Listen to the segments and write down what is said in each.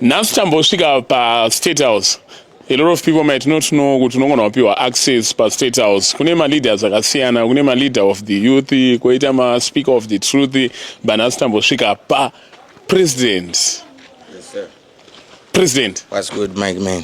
nhasi tambosvika pastate house a lot of people might not know kuti unongona wapiwa access pastate house kune maleaders akasiyana kune maleader of the youth koita maspeaker of the truth but nhasi tambosvika papresident yes, president What's good, Mike, man?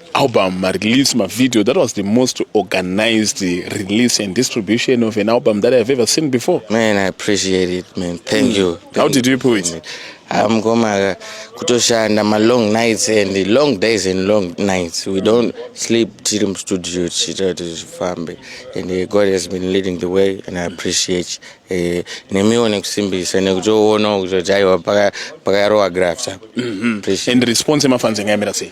album marelease mavideo that was the most organized release and distribution of an album that i have ever seen before man i appreciate it man thank mm. you thank how did you put it amgoma kutoshanda malong nights and long days and long nights we don't sleep tiri mustudio tichiita kuti zvifambe and uh, god has been leading the way and i appreciate uh, nemiwo nekusimbisa nekutoonawo kutoti aiwa pakayarowa graft mm-hmm. and response emafanzi ngaimira sei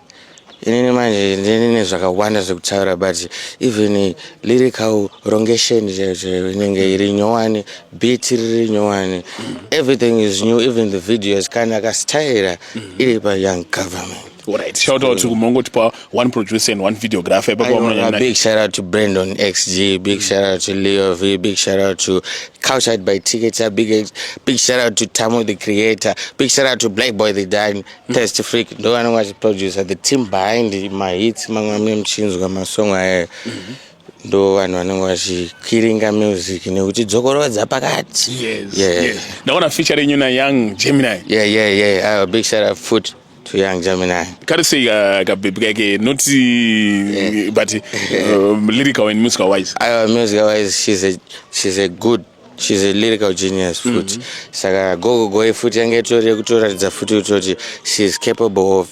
inini manje ndine zvakawanda zvekutaura but even lyrical rongation inenge iri nyowani beat riri nyowani everything is new even the videos kana akasitayira iri payoung government Alright, shout out to Kumongo Tipa, one producer and one videographer. A big shout out to Brandon XG, big shout out to Leo V, big shout out to Couchside by Tickets, big big shout out to Tamo the creator, big shout out to Black Boy the Dan, Test Freak ndo anenge achiproducer the team behind mahits mamwe amwe muchinzwa masong aya mhm. ndo vanhu vanenge vachikiringa music nekuti dzokorodza pakati ndaona feature renyu na young gemini yeah, yeah, yeah. Uh, big shout out foot to young gemini kari sei uh, kabhebhi kake not yeah. but uh, lyrical and musical wise uh, musical wise she's a, she's a good she's a lyrical genius futi mm -hmm. saka gogogoe futi yange itori yekutoratidza futi kutoti she's capable of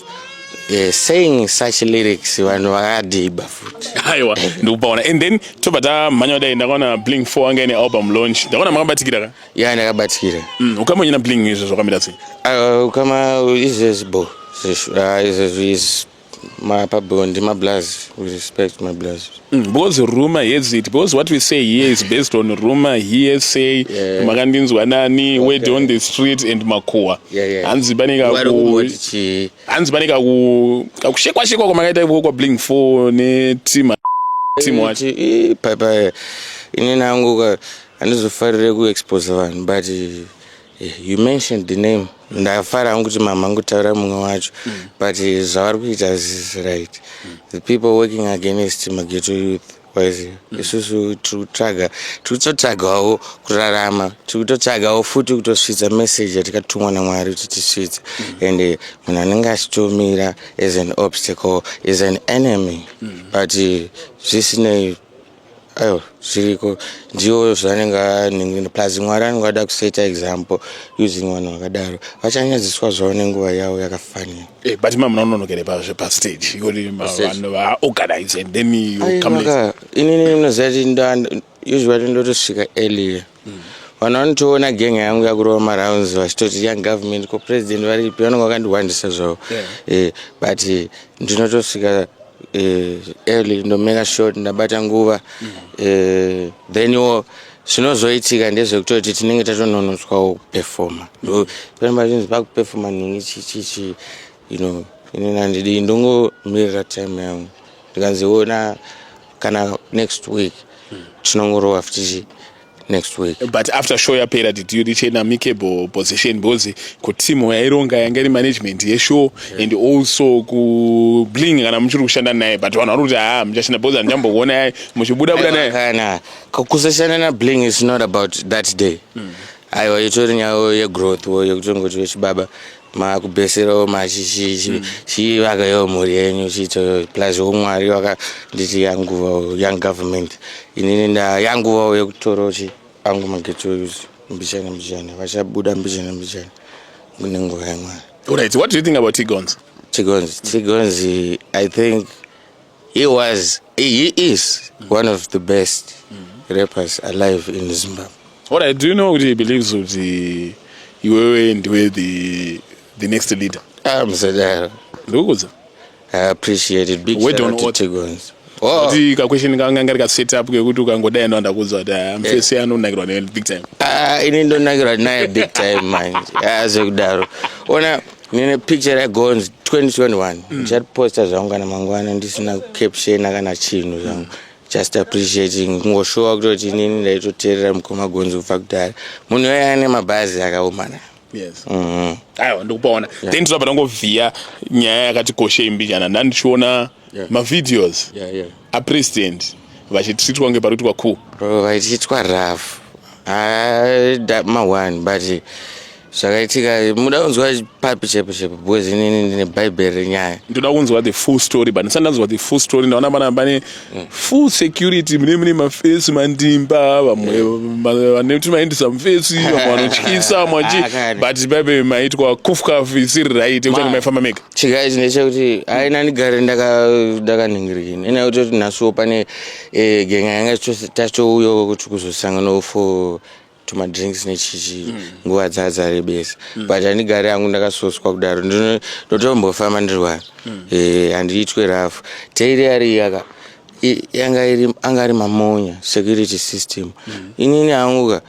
uh, saying such lyrics vanhu vakadhiba futi aiwa ndikupaona and then tobva tamhanya kudai ndakaona bling four anga ine album launch ndakaona makabatikira ka ya ndakabatikira mm, ukamonyina bling izvo zvakamira sei uh, ukama izvezvo bo izvezvo uh, izvezvo is mapabhondi mablaz respect mablaz mm, because rumor has it because what we say here is based on rumor here say yeah. makandinzwa nani okay. word on the street and makuwa hanzi pane hanzi pane kakushekwashekwa kwamakaita ikoko kwabling four netim tim wacho papa ini nangu handizofarire kuexpose vanhu but You mentioned the name ndafara hangu kuti mama ngutaura mumwe wacho mm. but zvavari kuita zis right mm. the people working against mageto youth wise mm. isusu tikutsvaga tikutotsvagawo kurarama tikutotsvagawo futi kutosvitsa message yatikatumwa namwari kuti tisvitse mm. and eh, munhu anenge achitomira as an obstacle is an enemy mm. but eh, zvisinei aiwa zviriko ndiyoyo zvanenge aningina plus mwari anenge ada kuseta example using vanhu vakadaro vachanyadziswa zvavo nenguva yavo yakafanira eh, but ma munaononokere pazve pastage ikoti vanhu vaorganize and then you come later inini munoziva kuti usually ndotosvika earlier vanhu vanotoona genga yangu yakurova marounds vachitoti young government ko president varipi vanonge vakandiwandisa zvavo yeah. eh, but eh, ndinotosvika eh, early ndomeka short ndabata nguva mm. eh, then iwo zvinozoitika ndezvekutoti tinenge tatononotswawo kupefoma mm. pamba zvinzi pakupefoma nhungi chichichi you know inini handidi ndongomirira time yangu ndikanziona kana next week tinongorova futichi next week but after show yapera did you reach an amicable position because kutimu yaironga yanga iri management yeshow yeah. and also kubling kana muchiri kushanda naye but vanhu vari kuti haa ah, muchashanda because handichambokuona muchibuda buda naye kusashanda nabling is not about that day mm. aiwa itori nyaya yegrowth wo yekutongoti vechibaba makubeserawo machivaka yo mhuri yenyu chiitoyo plus umwari vakanditi yanguva young government inini nda yanguvawo yekutorawo chi angu magetsi oyuzi mbichana mbichana vachabuda mbichana mbichana kune nguva yamwari Alright, what do you think about Tigons? Tigons, Tigons, I think He was, he is one of the best rappers alive in Zimbabwe. All right, do you know kuti he believes kuti iwewe ndiwe the, the next leader? Ah, msadaro. Ndikukuza. I appreciate it. Big Wait shout out to Tigons. Oh. Kuti ka question kanga ngari ka set up kekuti ukangodai ndo ndakuudzwa kuti ah, mfesi yeah. anonakirwa naye big time. Ah, ini ndonakirwa naye big time manje. Ah, zvekudaro. Ona nine picture ragonzi 2021 mm. ndichatiposta zvangu kana mangwana ndisina captiona kana chinhu zvangu just appreciating kungoshuwa kutoti inini ndaitoteerera mukoma gonzi kubva kudhara munhu yoye ane mabhazi akaomana yes mm -hmm. aiwa ndikupaona yeah. then tinopa tangovhiya nyaya yakati koshei mbijana ndandichiona yeah. mavideos yeah, yeah. apresident vachitritwa kunge pari kuitwa ku vachititwa rough ah, ma one but zvakaitika muda kunzwa papi chepo chepo because inini ndine bhaibheri renyaya ndoda kunzwa the full story but ndisati ndanzwa the full story ndaona pana pane mm. full security mune mune mafesi mandimba vamwe vane kuti maendisa mufesi vamwe vanotyisa vamwe vachi ah, but bhaibheri maitwa kufkafu isiri right ekuti maifamba mega chika ichi ndechekuti aina ndigare ndakaningirikini ndaka ina kuti kuti nhasuwo pane e, genga yanga tatouyo kuti kuzosanganawo for tumadrinks nechichi hmm. nguva mm. dzadzarebesa mm. but handigare yangu ndakasoswa kudaro ndotombofamba ndiri wani mm. e, eh, handiitwe rafu teiri ari yaka yanga iri anga ari mamonya security system mm. inini hanguka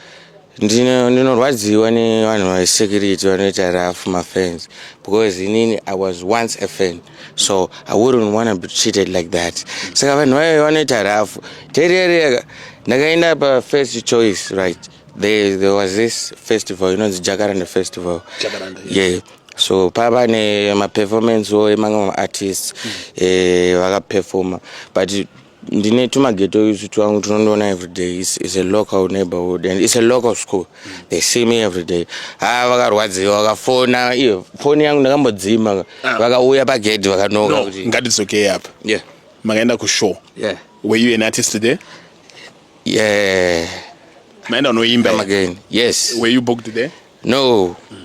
ndinorwadziwa nevanhu vesecurity vanoita rough mafans because inini i was once a fan so i wouldn't wanna be treated like that saka vanhu vayo vanoita rough terereka ndakaenda pafirst choice right there, there was this festival inonzi jacaranda festival jacaranda, yes. yeah so pava nemaperformance wo emamwe maartists mm. eh, vakaperforma but ndine tumageto isu twangu tunondiona everyday is, is a local neighborhood and is a local school they see me everyday ha ah, vakarwadziwa vakafona iyo foni yangu ndakambodzima ah. vakauya pagedhi vakanoka no, kuti ngatidzokei apa yeah. makaenda kushow yeah. were you an artist there yeah. maenda unoimba again yes were you booked there no mm.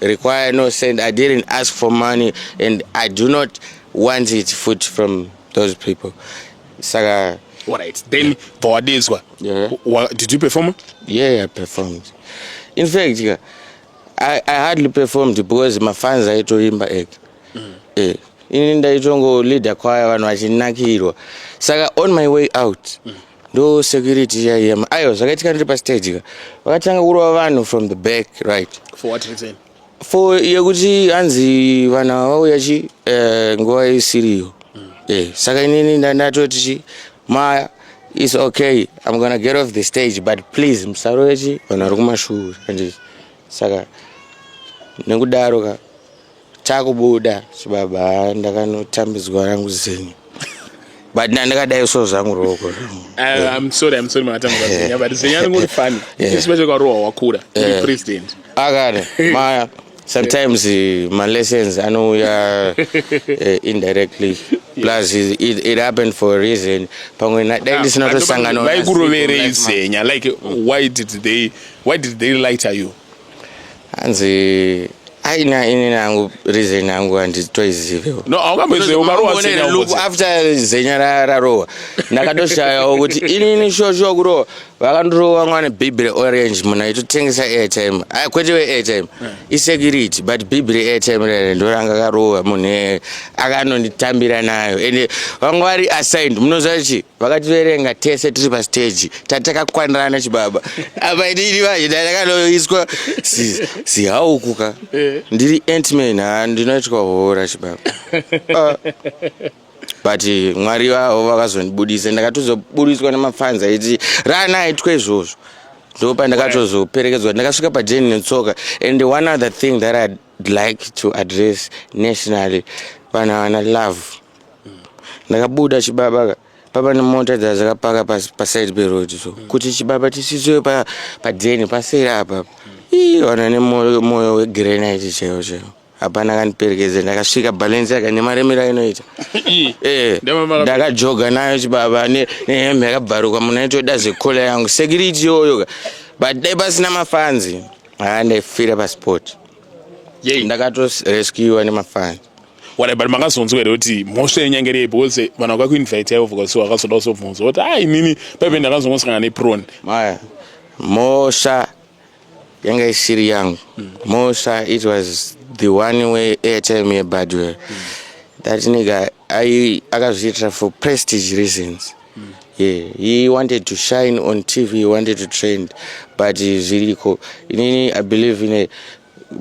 require no send i didn't ask for money and i do not want it food from those people saka right then pawadedzwa yeah. yeah. did you perform yeah, yeah i performed in fact yeah, I, i hardly performed because mafans aitoimba eg mm. eh, ini ndaitongoleader kwaya vanhu vachinakirwa saka on my way out mm. ndo security iya iya aiwa zvakaitika ndiri pastage ka vakatanga kurova vanhu from the back right for what reason for yekuti hanzi vanhu ava vauya chi eh, nguva isiriyo mm. eh, saka inini ndatoti chi maya is okay i'm gonna get off the stage but please musarove chi vanhu vari kumashure andii saka nekudaro ka Takubuda chibaba ndakanotambidzwa rangu zenyu but ndandakadai so zvangu rooko akana maya sometimes eh, malessons anouya eh, indirectly plus it, it happened for a reason pamwe dai ah, ndisina tosanganaikuroverei zenya like why did they why did they lighter you hanzi aina ini nangu reason yangu handitoizivewo no aungamboizive ukarowa zenya look after zenya rarowa ndakatoshayawo kuti inini shosho kurowa vakandirowa mwana bhibi reorange munhu aitotengesa airtime ah, kwete weairtime eh. isecurity but bhibi reairtime rere ndoranga karowa munhu akanonditambira nayo ende vanga vari assigned munoziva chi vakativerenga tese tiri pastage tatakakwanirana chibaba apa inini manje ndakanoiswa sihaukuka eh. ndiri antman ha ndinoitwa hora chibaba ah. but mwari vavo vakazondibudisa ndakatozoburitswa nemafanzi aiti rana aitwa izvozvo ndo pandakatozoperekedzwa ndakasvika pajeni netsoka and one other thing that i'd like to address nationally vanhu havana love ndakabuda chibaba pava nemota dzazakapaka paside peroad so mm. kuti chibaba tisisoe padeni paseri apa ii vanhu nemoyo wegrenite chaiwo chaiwo hapana akandiperekedza ndakasvika balance yaka nemaremero ainoita eh, ndakajoga nayo chibaba nehembe yakabvarukwa munhu aitoda zvekola yangu security yoyoka but dai pasina mafanzi haa ndaifira pasport ndakatorescuwa nemafanzi wala but makazonzwa here kuti mhosva yenyangerei because vanhu vakakuinvite yaivo vkasi vakazoda kuzobvunza kuti a inini paive ndakazongosangana neprone maya mhosva yanga isiri yangu hmm. mhosva it was the one way airtime yebadwell hmm. that nigga akazviitira for prestige reasons hmm. yeah he wanted to shine on tv he wanted to trend but zviriko inini i believe in a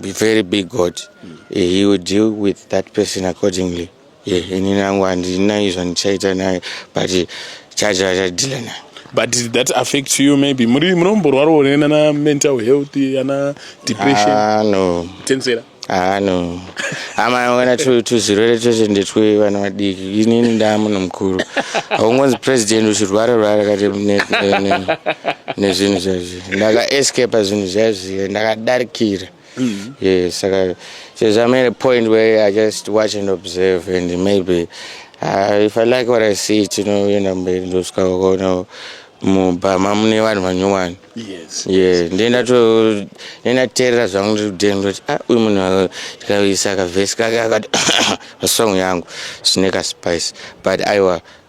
be very big God. Mm. He will deal with that person accordingly. Yeah, ini nangu handina izvo ndichaita naye but chacho achadhila naye but did that affect you maybe muri munomborwarawo nana mental health ana depression ah, no tensera Ah no. Ama wana tu tu zirwere tese ndetwe vana vadiki. Inini nda munhu mukuru. Haungonzi president uchirwara rwara kati ne ne ne zvinhu zvezvi. ndakaescapa zvinhu zviya zviya ndakadarikira Mm-hmm. Yeah, it's like a, since I'm at a point where I just watch and observe, and maybe uh, if I like what I see, you know, you know, maybe those kind of, you know, mubhama mune vanhu vanyowani ye ndendateerera zvangu ndikudeni ndoti a ah, uyu munhu tikaisa kavhesi kake akati vasong yangu zvine kaspice but aiwa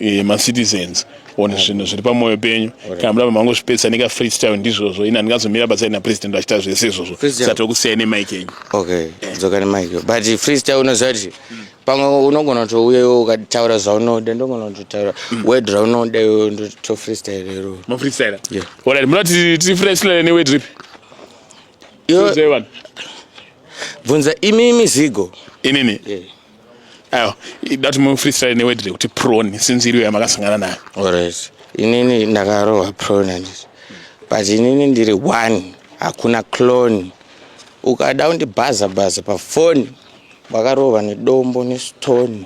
Eh, macitizens one zvinhu zviri pamwoyo penyu kana muda mamango zvipedzisa neka freestyle ndizvozvo ini handingazomira batsai napresident vachiita zvese izvozvo sati okusiyai nemike enyu okay dzoka nemike but freestyle unoziva kuti pamwe unogona kutouyewo ukataura zvaunoda ndogona kutotaura mm. wed raunoda iwo to freestyle iro mafreestyle orit munoti tiri freestyle newed ripi bvunza imi mizigo inini yeah. ayo ida kuti mufreestyle neword rekuti prone since iriyo yamakasangana nayo alright inini ndakarohwa prone handiti but inini ndiri one hakuna clone ukada undibhaza bhaza pafoni wakarova nedombo nestone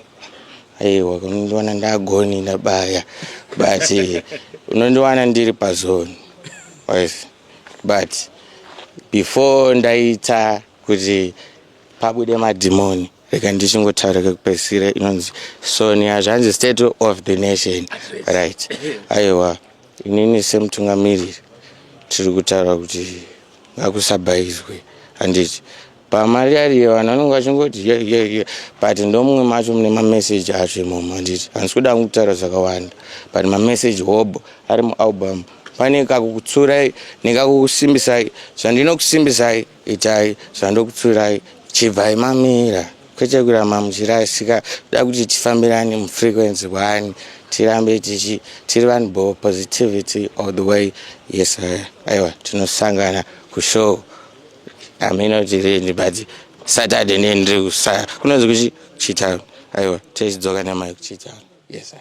aiwa unondiwana ndagoni ndabaya but eh, unondiwana ndiri pazoni but before ndaita kuti Pabude madhimoni rega ndichingotaura kekupedzisira inonzi sonia zvanzi state of the nation right aiwa inini semutungamiriri tiri kutaura kuti ngakusabhaizwe handiti pamari ariye vanhu vanenge vachingoti ye ye ye but ndomumwe macho mune mameseji acho imomo handiti handisi kuda kungu kutaura zvakawanda but mameseji hobho ari mualbum pane kakukutsura nekakukusimbisai zvandinokusimbisai itai zvandokutsurai chibvai mamira kwete kuramba muchirasika da kuti tifambirane mufrequency one tirambe tichi tiri vanhu bo positivity all the way yes aiwa tinosangana kushow amino tirini but saturday ndiye ndiri kusaya kunonzi kuchi chitaru aiwa tichidzoka namai kuchitaru yes sir.